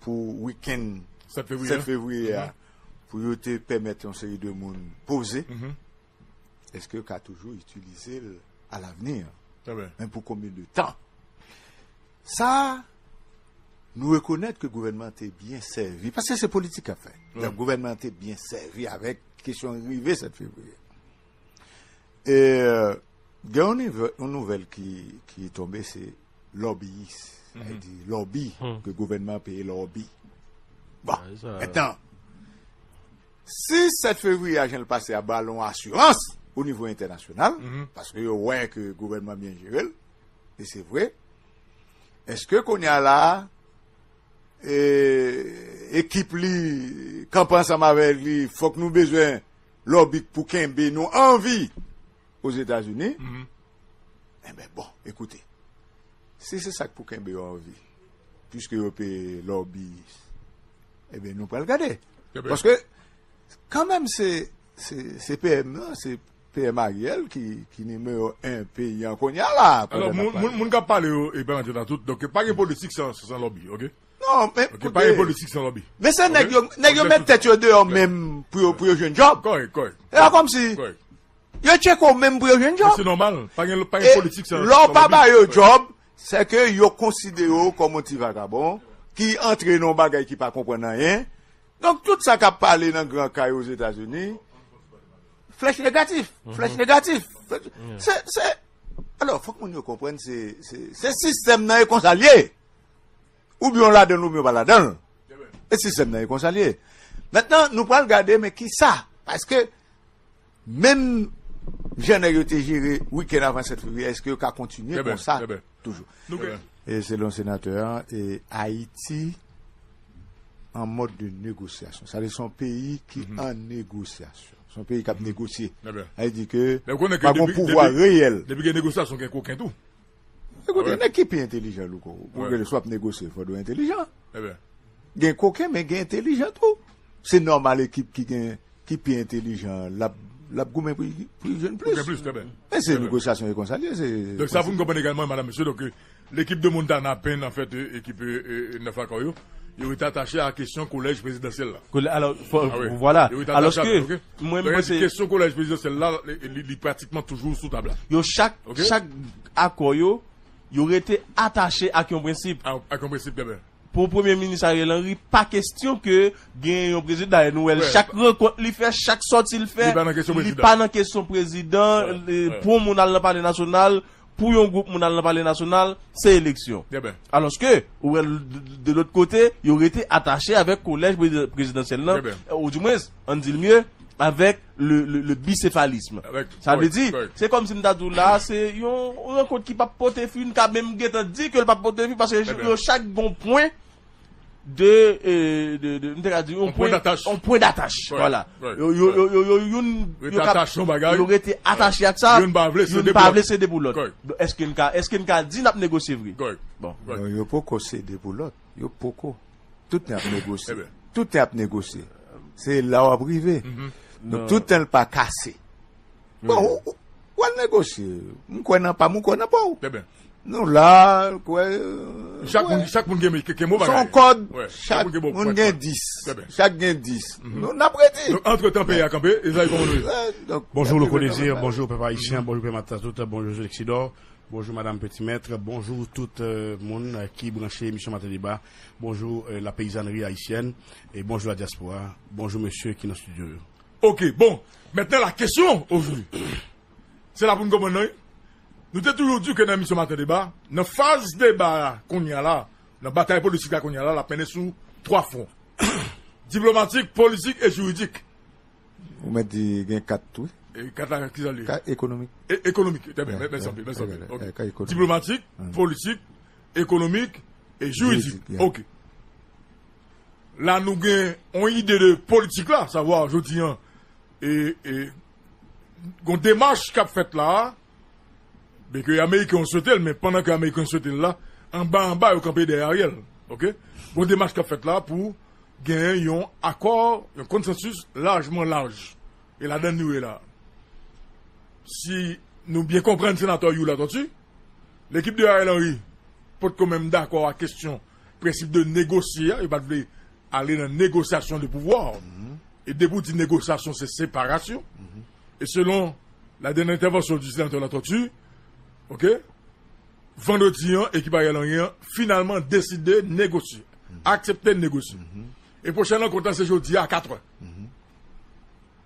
G: pou wikenn 7 fevriye a pou yo te pèmèt yon seri de moun poze, èske yo ka toujou itilize l alavni an? Men pou konbyen de tan? Sa a, nou rekonèt ke gouvènman an te byen sèvi, paske se politik k ap fèt, donk gouvènman an te byen sèvi avèk kesyon rive 7 fevriye. E gen yon nouvèl ki tonbe se lòbiyis. Sa di lòbi ke gouvènman an peye lòbi. Bon, etan, si 7 fevriye a jan l pase a ba l yon asirans o nivo entènasyonal, paske yo wè ke gouvènman byen jere l, e se vre, eske kounye a la a, ekip li, kanpe ansanm avèk li, fòk nou bezwen lòbi k pou kenbe nou an vi Ozetazini, enben bon, ekoute, si se sa k pou kenbe yo an vi, piske yo peye lòbiyis, enben nou pral gade. Paske, kanmenm se, se PM nan, se PM Ariel ki nimewo 1 peyi an kounye a la. Alò, moun k ap
E: pale yo, e pa nan tèt a tout, donk pa gen politik san lòbi, oke? Non men koute. Ok pa
G: gen politik san lòbi.
E: Men se nèg yo nèg
G: yo met tèt yo deyò menm pou yo pou yo jwenn djòb. Kòrèk kòrèk. E pa kòmsi yo tcheke w menm pou yo jwenn djòb. Se nòmal pa gen pa
E: gen politik san lòbi. E lò w pa ba yo djòb
G: se ke yo konsidere w kòm yon ti vagabon ki antre nan yon bagay ki pa konprann anyen. Donk tout sa k ap pale nan gran kay ozetazini flèch negatif flèch negatif se se alò fòk moun yo konprann se se sistèm nan e konsa l ye. Oubyen yo ladanl oubyen yo pa ladanl. E sistèm nan e konsa l ye. Mentnan nou pral gade men ki sa. Paske menm jan nèg yo te jere wikenn avan 7 fevriye eske yo ka kontinye konsa toujou. E selon senatè an e Ayiti an mòd de negosyasyon. Sa vle di son peyi ki an negosyasyon. Son peyi k ap negosye. Sa vle di ke pa gon pouvwa reyèl. Depi gen negosyasyon gen
E: koken tou. Ekoute
G: nèg ki pi entelijan louko pou gade si wap negosye fòk dwe entelijan gen koken men gen entelijan tou se nòmal ekip ki gen ki pi entelijan lap lap goumen pou li jwenn plis men se negosyasyon e konsa li ye se donk sa poun konprann egalman
E: madam mesye donk lekip de montana pen an fèt ekip 9 akò yo yo rete atache a kesyon kolèj prezidansyèl la alò
F: vwala alòske Mwen m panse. Kesyon
E: kolèj prezidansyèl la li pratikman toujou sou tab la. Yo chak
F: akò yo, yo rete atache ak yon prensip. Ak yon prensip genben.
E: Pou Premye Minis
F: Ariel Henry, pa kesyon ke genyen yon prezidan. Dayè nou wè l chak rankont li fè, chak sòti l fè. Li pa nan kesyon prezidan. Li pa nan kesyon prezidan. Pou yon moun al nan Palè Nasyonal, Pou yon gwoup moun al nan palè nasyonal, se eleksyon. Alòske, ou wè de lòt kote, yo rete atache avèk kolèj prezidansyèl lan, ou di mwens, an n di l mye, avèk le bisefalism. Sa vle di, se kòm si m ta di w la a, se yon rankont ki p ap pote fwi, n ka menm gentan di ke l p ap pote fwi, paske yo chak gen yon pwen. De, de, m te ka di yon pwen. Yon pwen datach. Vwala. Yo, yo, yo, yo, yo youn. Rete atache yon bagay. Yo rete atache ak sa. Youn pa vle sede pou lòt. Youn pa vle sede pou lòt. Kòrèk. Eske n ka, eske n ka di n ap negosye vre? Kòrèk. Bon. Non yo poko
G: sede pou lòt. Yo poko. Tout tan y ap negosye. Eben. Tout tan y ap negosye. Se la w ap rive. Donk tout tan l pa kase. Bon, ou al negosye. M kwè nan pa m, ou kwè nan pa w. Trè byen. Nou
E: la,
G: kwè. Chak moun,
E: chak moun gen mi, gen mou bagay. Son kòd,
G: chak moun
E: gen
G: dis.
E: Trè
G: byen. Chak gen
E: dis.
G: Nou n ap redi. Donk, antre tan peyi a kanpe,
E: e zay kòman nou ye? Donk. Bonjou Louko Désir,
H: bonjou pèp Ayisyen, bonjou pèp Matatou, bonjou Zulexidò, bonjou Madam Peti Mètre, bonjou tout moun ki branche emisyon Maten Deba, bonjou la peyizanri Ayisyèn, e bonjou la dyaspora, bonjou mesye ki nan studio yo. Ok bon
E: maintenant la question aujourd'hui se la pou n konprann nan wi nou te toujou di ke nan emisyon maten deba nan faz deba a kounya la nan batay politik la kounya la l ap mennen sou 3 fwon diplomatik politik e jiridik Ou mèt
G: di gen 4 tou wi e 4 la ki sa
E: l ye? 4 ekonomik e
G: ekonomik e byen
E: mèsi anpil mèsi anpil ok diplomatik politik ekonomik e jiridik ok. La nou gen yon ide de politik la, savwa jodi an, e yon demach k ap fèt la a, byen ke Ameriken yo swete l, men pandan ke Ameriken yo swete l la, anba anba yo kanpe dèyè Ariel. Ok? Yon demach k ap fèt la a pou genyen yon akò, yon konsansis lajman laj. E ladan l nou ye la a. Si nou byen konprann Senatè Youl Latortue, lekip de Ariel Henry potko menm dakò ak kesyon Prensip de negosye a, yo pa t vle ale nan negosyasyon de pouvwa. E depi w di negosyasyon se separasyon. E selon la dènè entèvansyon di Senatè Latòti, ok, vandredi an ekip Ariel Henry an finalman deside negosye, aksepte negosye. E pwochen rankont la se jodi a a katrè.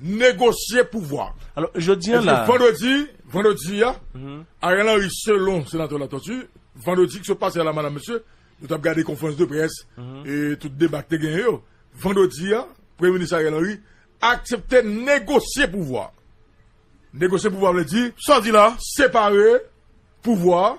E: negosye pouvwa. Ebyen
F: vandredi, vandredi
E: a, Ariel Henry selon Senatè Latortue, vandredi ki sot pase a la madam mesye, nou t ap gade konferans de près e tout deba ki te genyen yo, vandredi a, Premye Minis Ariel Henry aksepte negosye pouvwa. Negosye pouvwa vle di, separe pouvwa.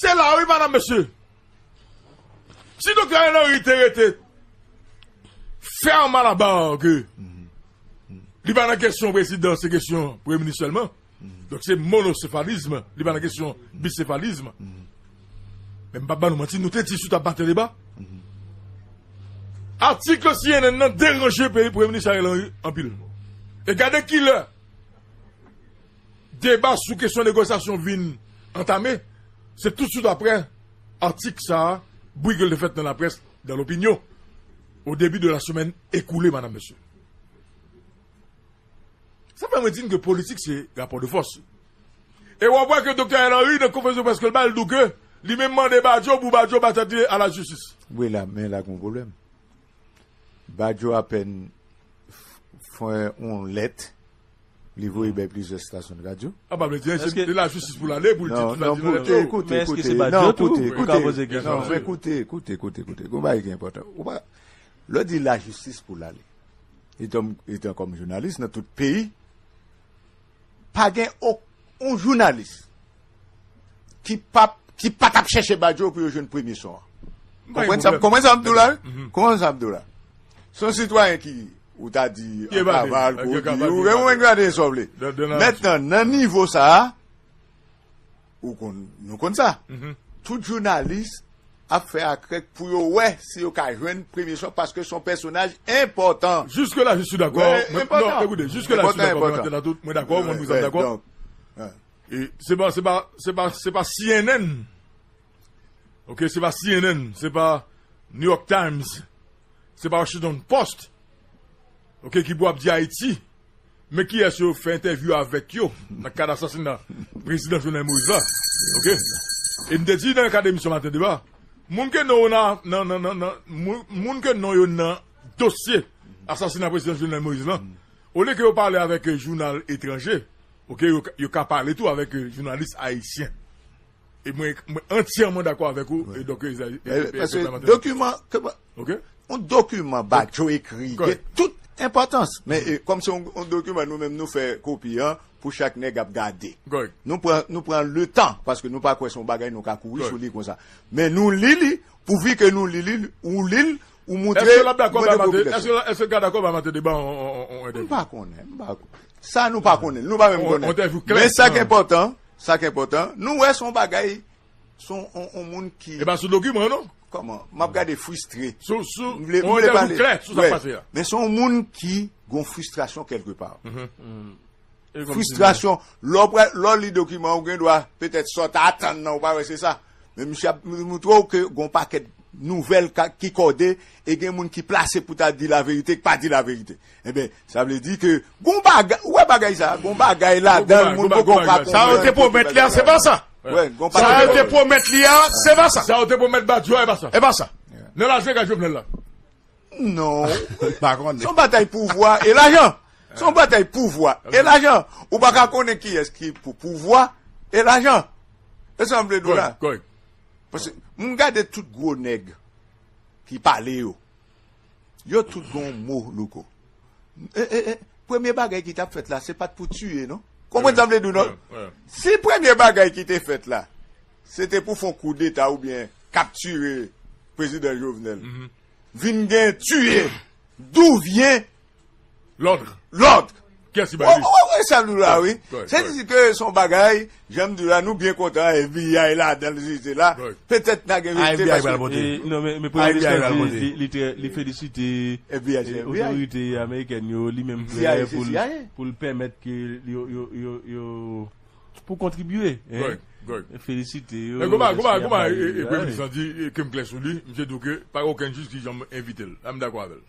H: Se la
E: wi madam mesye. Si Doktè Ariel Henry te rete ferme à la barre que li pa nan kesyon prezidan se kesyon premye minis sèlman. Donk se monosefalisme, li pa nan kesyon bisefalisme. Men m pa ban nou manti, nou te di sou ta batè deba. Atik CNN nan deranje peyi premye minis Ariel Henry anpil. E gade ki lè Deba sou kesyon negosyasyon vin antame, se toutswit apre atik sa a, bwi ke l te fèt nan laprès, dans l'opinion, au début de la semaine écoulée, madame, monsieur. Sa fè mwen di n ke politik se rapò de fòs. E wap wè ke Doktè Ariel Henry nan konferans de près ke l bay, l di w ke li menm mande Badio pou Badio ba tèt li a la jistis. Wi la, men la gen yon
G: pwoblèm. Bajo apèn fè yon lèt li voye bay plizyè stasyon radyo. Sa pa vle di anyen, se
E: lajistis pou l ale pou l di ki sa ki vle fèt yo. Men eske
G: se Bajo tou pou ka poze kesyon sa yo? Koute, koute, koute, koute. Gon bagay ki enpòtan. Lè w di lajistis pou l ale, etan kòm jounalis nan tout peyi, Pa gen ok on jounalis ki pap ki pa tap chèche Badio pou yo jwenn premye son an. Konprann sa konprann sa m di w la wi? Konprann sa m di w la. Se yon sitwayen ki ou ta di an kaval, kou di, ou gen mwen gade sa w vle. Mètnan nan nivo sa a. Ou konn, nou konn sa. Tout jounalis ap fè akrèk pou yo wè si yo ka jwenn Premye Chòv paske son pèsonaj enpòtan. Jiske la je suis dakò.
E: Enpòtan. Non, ekoute, jiske la je suis dakò. Enpòtan, enpòtan. Mwen la tout, mwen dakò, mwen mwen dakò. Donk, an. E se pa, se pa, se pa, se pa cnn. Ok, se pa cnn, se pa New York Times, se pa Washington Post. Ok, ki pou ap di Ayiti. Men kiyès yo fè entèvyou avèk yo nan kad asasina prezidan Jovenel Moïse la. Ok. E m te di nan kad emisyon Maten deba, moun ke non moun ke non yo nan dosye asasina prezidan Jovenel Moïse lan, olye ke yo pale avèk jounal etranje, ok, yo ka pale tou avèk jounalis ayisyen. E mwen antyèman dakò avèk ou. E donk e zay. E pèsè
G: dokiman. Ok. Yon dokiman Bajo ekri. Kòrèk. Gen tout enpòtans. Men e kòm se yon dokiman nou menm nou fè kopi an pou chak nèg ap gade. Kòrèk. Nou pran nou pran le tan paske nou pa kwè se yon bagay nou ka kouri sou li konsa. Men nou li li pou vi ke nou li li ou li l ou moutre. Èske l ap dakò ba
E: mate. Èske l ka dakò ba mate de ba yon entèvyou. M pa konnen. M pa
G: konnen. Sa nou pa konnen. Nou pa menm konnen. Yon entèvyou klè. Men sa k enpòtan. Sa k enpòtan, nou wè son bagay, son on moun ki. E pa sou dokiman an non.
E: Kòman? M ap gade
G: fristre. Sou, sou, m vle, m vle pale.
E: On dèjou klè sou sa k pase a. Men son moun ki
G: gon fristrasyon kèlke pa. Fristrasyon, lè w pral, lè w li dokiman ou gen dwa petèt sa w ta atann nan ou pa wè se sa. Men misye ap montre w ke gon pakèt nouvèl ka, ki kòde e gen moun ki plase pou ta di laverite k pa di laverite. Enben, sa vle di ke gon bagay, ou wè bagay sa a, gon bagay ladan l moun poko ka konprann. Sa yo te pwomèt li a,
H: se pa sa. Sa yo
G: te pwomèt
H: li a, se pa sa. Sa yo te pwomèt Badio a,
E: e
H: pa
E: sa. E pa sa. Nan
H: lajan e ka Jovenel
E: la. Non.
G: Pa konnen. Se yon batay pouvwa e lajan. Se yon batay pouvwa e lajan. Ou pa ka konnen kiyès ki pou pouvwa e lajan. E sa m vle di w la. Kòrèk. Pase m gade tout gwo nèg ki pale yo. Yo tout gen yon mo louko. E e e premye bagay ki tap fèt la se pat pou tiye non konprann sa m vle di w non si premye bagay ki te fèt la se te pou fon koudeta oubyen kaptire prezidan Jovenel vin gen tiye dou vyen
E: Lòdre! Lòdre! Kiyès ki bay li? Ou wè sa nou la
G: wi. Se te di ke son bagay, jan m di w la, nou byen kontan FBI ladan l jete la. Petèt na gen verite. FBI pral pote. Non men,
F: men premye minis lan di li trè, li felisite otorite amerikèn yo, li menm prè pou l, pou l pèmèt ke yo, yo, yo, yo, pou kontribye. Felisite yo. Men gwo bagay, gwo bagay,
E: gwo bagay premye minis lan di ke m klè sou li, misye di w ke pa gen okenn jij ki janm envite l. La m dakò avè l.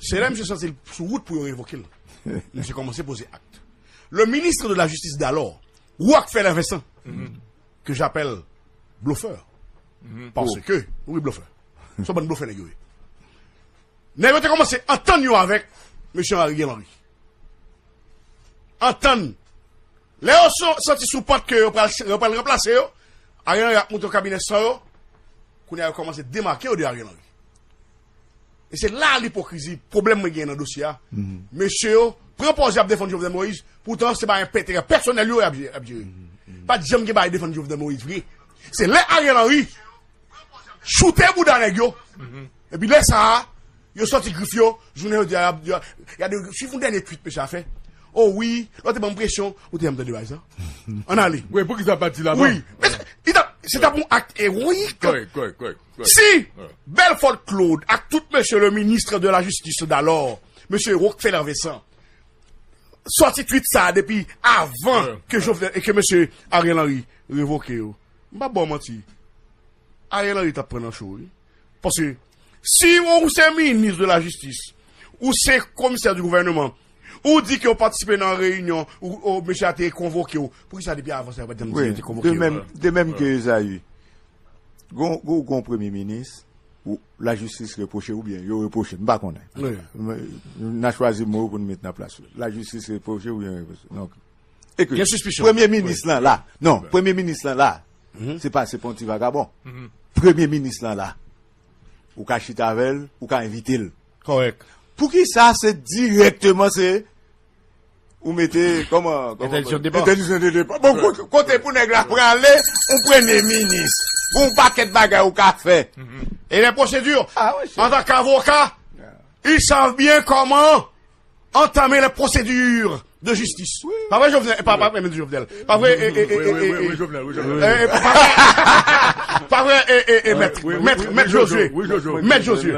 H: Se lè misye santi l sou wout pou yo revoke l, misye kòmanse poze akt. Le ministre de la justice d'alors, Rockefeller Vincent, que j'appelle blofeur, parce que, oui blofè, son bann blofè nèg yo ye. Nèg yo te kòmanse antann yo avèk mesye Ariel Henry. Antann. Lè yo santi sou pant ke yo pral ranplase yo, Ariel Henry ap moute yon kabinè san yo, kounye a yo kòmanse demake yo de Ariel Henry. E se la lipokrizi, pwoblèm mwen genyen nan dosye a. Mesye yo pran pòz y ap defann Jovenel Moïse, poutan se pa enpèterè pèsonèl yo y ap jere. Pa t janm gen bagay defann Jovenel Moïse vre. Se lè Ariel Henry choute bouda nèg yo, epi lè sa a, yo sòti grif yo, jounen jodi a y ap di, gade, suiv yon dènye tweet mesye a fè, O wi, lè w te ban m presyon, ou te janm tande bagay sa a? Ann ale. Wi, pou ki sa l pa t di l avan? Wi,
E: men
G: se ta
H: pou yon akt ewoyik. Kòrèk, kòrèk, kòrèk.
E: Si!
H: Belfort Claude ak tout mesye le ministre de la justice d'alor, mesye Rockefeller Vincent, sòti tweet sa a depi avan ke Jovenel e ke mesye Ariel Henry revoke yo, m pap ba w manti, Ariel Henry t ap pran nan cho wi. Paske, si ou se ministre de la justice, ou se komisè du gouvernement, ou di ke ou patisipe nan reyinyon ou mesye a te konvoke w, poukisa depi avan sa yo pa t janm di yo te konvoke w? De
G: mèm ke Esaü. Gon gon premye minis ou la jistis repwoche ou byen yo repwoche m pa konnen. N a chwazi mo pou n met nan plas yo. La jistis repwoche ou byen yo repwoche. Donk e ke premye minis lan la. Non, premye minis lan la. Se pa se pa yon ti vagabon. Premye minis lan la. Ou ka chita avè l, ou ka envite l. Kòrèk.
H: Poukisa
G: se direkteman se Ou mete koman? Entèdiksyon depa. Entèdiksyon
H: de depa. Bon
G: kote pou nèg la prale ou premye minis. Pou yon pakèt bagay ou ka fè. E lè pwosedi.
H: Antan k avoka, il sav byen koman antame lè pwosedi de jistis. Pa vre Jovenel? Pa vre menm di Jovenel. Pa vre e e e e e. Wi
E: Jovenel, wi
H: Jovenel. E e e e. Pa vre e e e
E: e. Mèt,
H: mèt, mèt Josué. Mèt Josué.